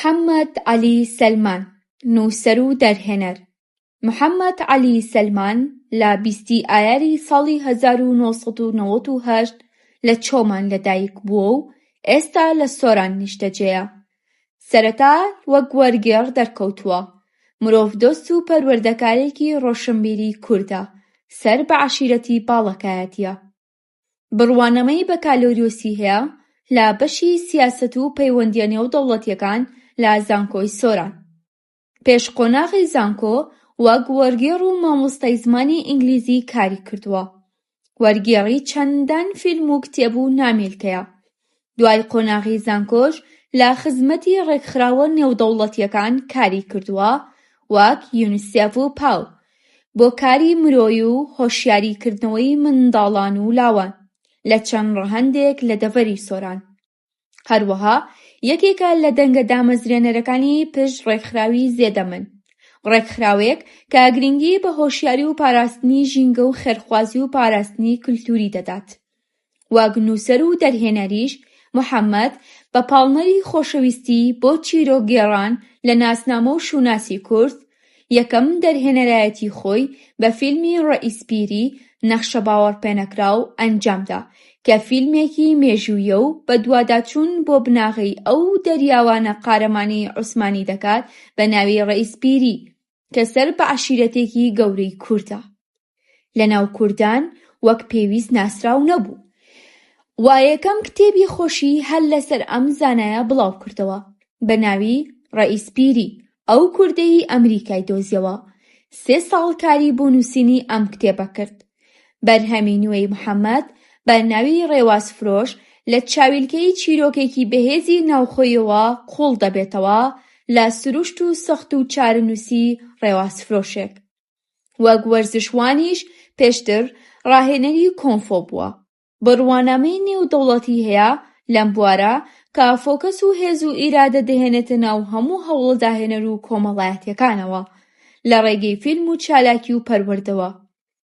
حەمەد عەلی سەلمان، نووسەر و دەرهێنەر محەمەد عەلی سەلمان لە بیستی ئایاری ساڵی هەزار و نۆ سەد و نەوەد و هەشت لە چۆمان لەدایک بووە و ئێستا لە سۆران نیشتەجێیە. سەرەتا وەک وەرگێڕ دەرکەوتووە. مرۆڤدۆست و پەروەردەکارێکی ڕۆشنبیری کوردە، سەر بە عەشیرەتی باڵەکایەتییە. بڕوانامەی بەکالۆریۆسی هەیە لە بەشی سیاسەت و پەیوەندییە نێودەوڵەتییەکان لە زانکۆی سۆران. پێش قۆناغی زانکۆ وەک وەرگێڕ و مامۆستای زمانی ئینگلیزی کاری کردووە. وەرگێڕی چەندان فیلم و کتێب و نامیلکەیە. دوای قۆناغی زانکۆش لە خزمەتی ڕێکخراوە نێودەوڵەتییەکان کاری کردووە وەک یونیسێف و پاو بۆ کاری مرۆیی و هۆشیاری کردنەوەی منداڵان و لاوان لە چەند ڕەهەندێک لە دەڤەری سۆران هەروەها یەکێکە لە دەنگە دامەزرێنەرەکانی پشت ڕێکخراوی زێدەمن ڕێکخراوەیەک کە گرنگی بە هۆشیاری و پاراستنی ژینگە و خێرخوازی و پاراستنی کلتوری دەدات. وەک نووسەر و دەرهێنەریش محەمەد بە پاڵنەری خۆشەویستی بۆ چیرۆکگێڕان لە ناسنامە و شووناسی کورد، یەکەم دەرهێنەرایەتی خۆی بە فیلمی ڕەئیس پیری نەخشە باوەڕپێنەکراو ئەنجامدا کە فیلمێکی مێژوویە و بەدواداچوون بۆ بناغەی ئەو دەریاوانە قارەمانی عوسمانی دەکات بە ناوی ڕەئیس پیری کە سەر بە عەشیرەتێکی گەورەی کوردە. لە ناو کوردان وەک پێویست ناسراو نەبوو و یەکەم کتێبی خۆشی هەر لەسەر ئەم زانایە بڵاو کردەوە بە ناوی ڕەئیس پیری ئەو کوردەی ئەمریکای دۆزیەوە سێ ساڵ کاری بۆ نووسینی ئەم کتێبە کرد بەرهەمی نوێی محەمەد بە ناوی ڕێواز فرۆش لە چاویلکەی چیرۆکێکی بەهێزی ناوخۆیەوە قوڵ دەبێتەوە لە سروشت و سەخت و چارەنووسی ڕێواز فرۆشێک وەک وەرزشوانیش پێشتر راهێنەری کۆنفۆ بووە، بڕوانامەی نێودەوڵەتی هەیە لەم بوارە کە فۆکەس و هێز و ئیرادە دەهێنێتە ناو هەموو هەوڵە داهێنەر و کۆمەڵایەتیەکانەوە لە رێگەی فیلم و چالاکی و پەروەردەوە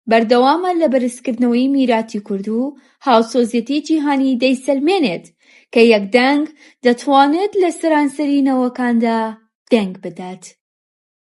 بەردەوامە لە بەرزکردنەوەی میراتی کورد و هاوسۆزیەتی جیهانی دەیسەلمێنێت کە یەک دەنگ دەتوانێت لە سەرانسەری نەوەکاندا دەنگ بدات.